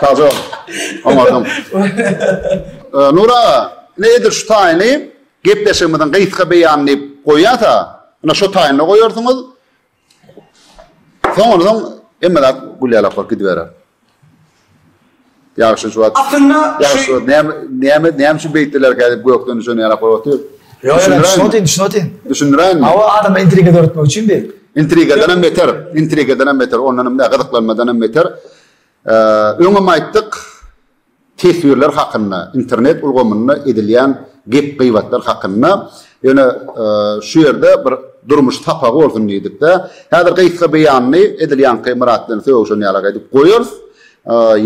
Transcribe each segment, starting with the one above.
Kazo. Oňardyň. Nur aga, ine edil şu taýyny gepleşigimiziň gysga beýany diýip goýýasa, ine şu taýyny goýarsyňyz. Soňundan hemme zat gülýalak bolup gidiberer. Ýagşy şu wagt. Aslynda şu. Näme näme näme üçin beýtdilerkä diýip gökden düşen ýaly ahwal otyr. Ýok ýok düşündirin düşündirin. Düşündiräýinmi? Hawa adama intriga döretmek üçin bir. Intrigadan hem beter. Intrigadan hem beter. Ondan hem näme gyzyklanmadan hem beter. Öňem aýtdyk teswirler hakynda internet ulgamynda edilýän gep gybatlar hakynda Ýöne şu ýerde bir durmuş sapagy bolsun diýdik-de, häzir gysga beýanyny edil ýaňky Myrat bilen sögüşen ýalak edip goýarys.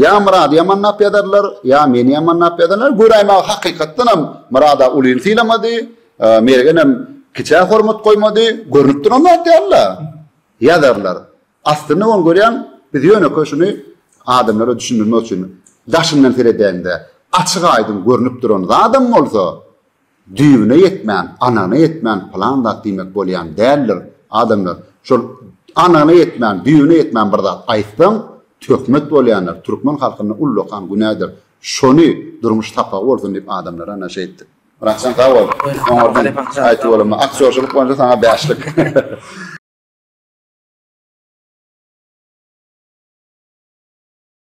Ýa Myrady ýamanlap ýazarlar, ýa meni ýamanlap ýazarlar. Göräýmäge hakykatdan hem Myrada ulyny sylamady, Mergenem kiçä hormat goýmady. Görnüp duran zat däl-de. Ýazarlar. Aslynda bolany görýäň, biz ýönekeý şuny adamlara düşündirmek üçin daşyndan seredäýiň-de, açyk-aýdyň görnüp duran zadam bolsa, Düýbüne ýetmän, anygyna ýetmän pylan zat diýmek bolýan däldir. Adamlar, şol anygyna ýetmän, düýbüne ýetmän bir zat aýtsaň, töhmet bolýandyr, türkmen halkynda ullakan günädir. Şony durmuş sapagy bolsun diýip adamlara naşa etdik. Myratjan sag bol. Oňardan aýtdy bolama. Aktýorçylyk boýunça saňa bäşlik.